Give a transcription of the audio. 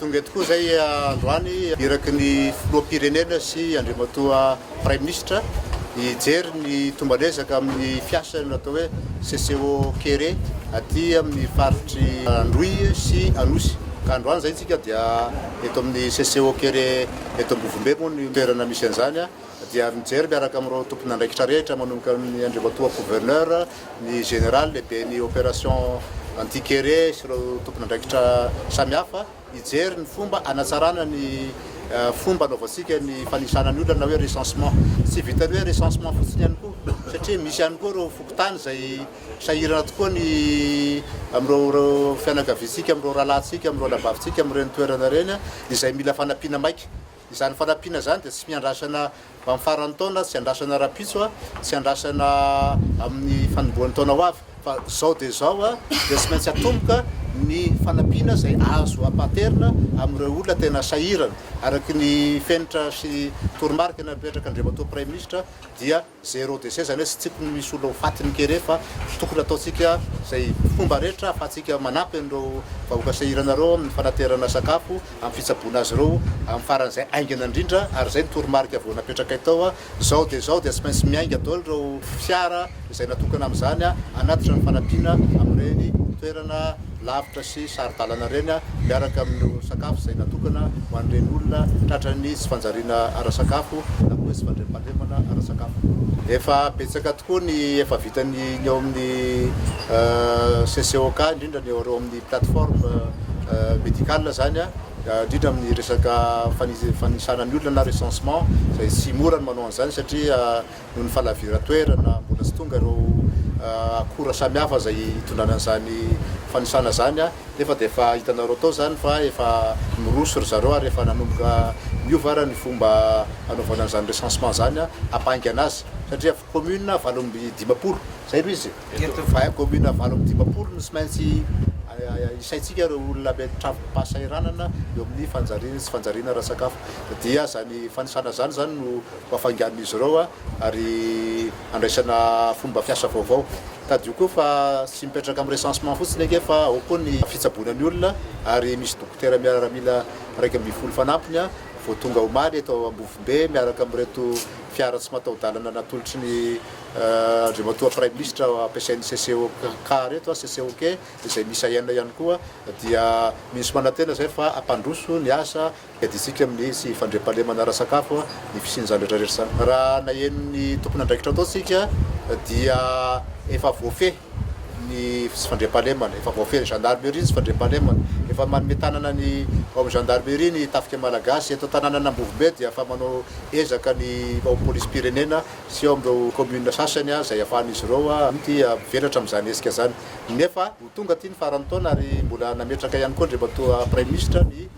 Tonga eto koa izay androany iraky ny Filoham-pirenena sy Andriamatoa Praiminisitra hijery ny tomban'ezaka amin'ny fiasan'ny atao hoe CCO kere aty amin'ny faritr'i Androy sy Anosy. Ka androany izay isika dia eto amin'ny CCO kere eto Ambovombe moa ny toerana misy an'izany dia mijery miaraka amin'ireo tompon'andraikitra rehetra manomboka amin'ny Andriamatoa Gouverneur, ny Général lehiben'ny opération anti-kere sy ireo tompon'andraikitra samihafa hijery ny fomba hanatsarana ny fomba anaovantsika ny fanisana ny olona na hoe recensement. Tsy vitan'ny hoe recensement fotsiny ihany koa satria misy ihany koa ireo fokontany izay sahirana tokoa ny amin'ireo fianakaviantsika, amin'ireo rahalahintsika, amin'ireo rahavavitsika amin'ireny toerana ireny izay mila fanampiana maika. Izany fanampiana izany dia tsy miandrasana ho amin'ny faran'ny taona, tsy andrasana rahampitso, tsy andrasana amin'ny fanombohan'ny taona ho avy fa izao dia izao dia tsy maintsy atomboka ny fanampiana izay azo ampahaterina amin'ireo olona tena sahirana. Araka ny fenitra sy toromarika napetraka Andriamatoa Praiminisitra dia. Zero déchet zany hoe tsy tokony misy olona ho faty ny kere fa tokony ataontsika izay fomba rehetra ahafahantsika manampy an'ireo vahoaka sahirana ireo amin'ny fanaterana sakafo, amin'ny fitsaboana azy ireo amin'ny faran'izay haingana indrindra ary izay ny toromarika vao napetrakay tao hoe izao dia izao dia tsy maintsy miainga daholo ireo fiara izay natokana amin'izany hanatitra ny fanampiana amin'ireny toerana lavitra sy saro-dalana ireny miaraka amin'ireo sakafo izay natokana ho an'ireny olona tratran'ny tsy fanjariana ara-sakafo na koa hoe tsy fandriampahalemana ara-sakafo. Efa betsaka tokoa ny efa vitan'ny ny ao amin'ny CCOK, indrindra ny ao amin'ny plateforme médicale izany, indrindra amin'ny resaka fanisana ny olona na recensement izay tsy mora ny manao an'izany satria. noho ny fahalaviran-toerana, mbola tsy tonga ireo akora samihafa izay hitondrana an'izany fanisana izany, nefa dia efa hitanareo tao izany fa efa miroso ry zareo ary efa nanomboka miova ary ny fomba hanaovana an'izany recensement izany hampahaingana azy satria commune valo amby dimampolo, izay aloha izy e, commune valo amby dimampolo no tsy maintsy hisaintsika ireo olona mety travi-pahasahiranana eo amin'ny fanjariana sy tsy fanjariana ara-tsakafo dia izany fanisana izany izany no. Ho hafainganin'izy ireo ary handraisana fomba fiasa vaovao. Tadidio koa fa tsy mipetraka amin'ny recensement fotsiny ange fa ao koa ny fitsaboana ny olona ary misy dokotera miaramila iraika ambin'ny folo fanampiny vao tonga omaly eto Ambovombe miaraka amin'ireto fiara tsy mataho-dalana natolotry ny Andriamatoa Praiminisitra ampiasain'ny CCOK ireto, CCOK, izay misy aina ihany koa dia misy manantena izay fa hampandroso ny asa Iadintsika amin'ny tsy fandriampahalemana ara-sakafo ny fisian'izany rehetra rehetra izany. Raha naheno ny tompon'andraikitra tao isika dia efa voafehy ny tsy fandriampahalemana, efa voafehy ny gendarmerie ny tsy fandriampahalemana, efa manome tanana ny ao amin'ny gendarmerie ny tafika malagasy, eto an-tanànana Ambovombe dia efa manao ezaka ny ao amin'ny polisim-pirenena sy ao amin'ireo commune sasany izay ahafahan'izy ireo mety mivelatra amin'izany hetsika izany nefa ho tonga aty ny faran'ny taona ary mbola nametraka ihany koa Andriamatoa Praiminisitra ny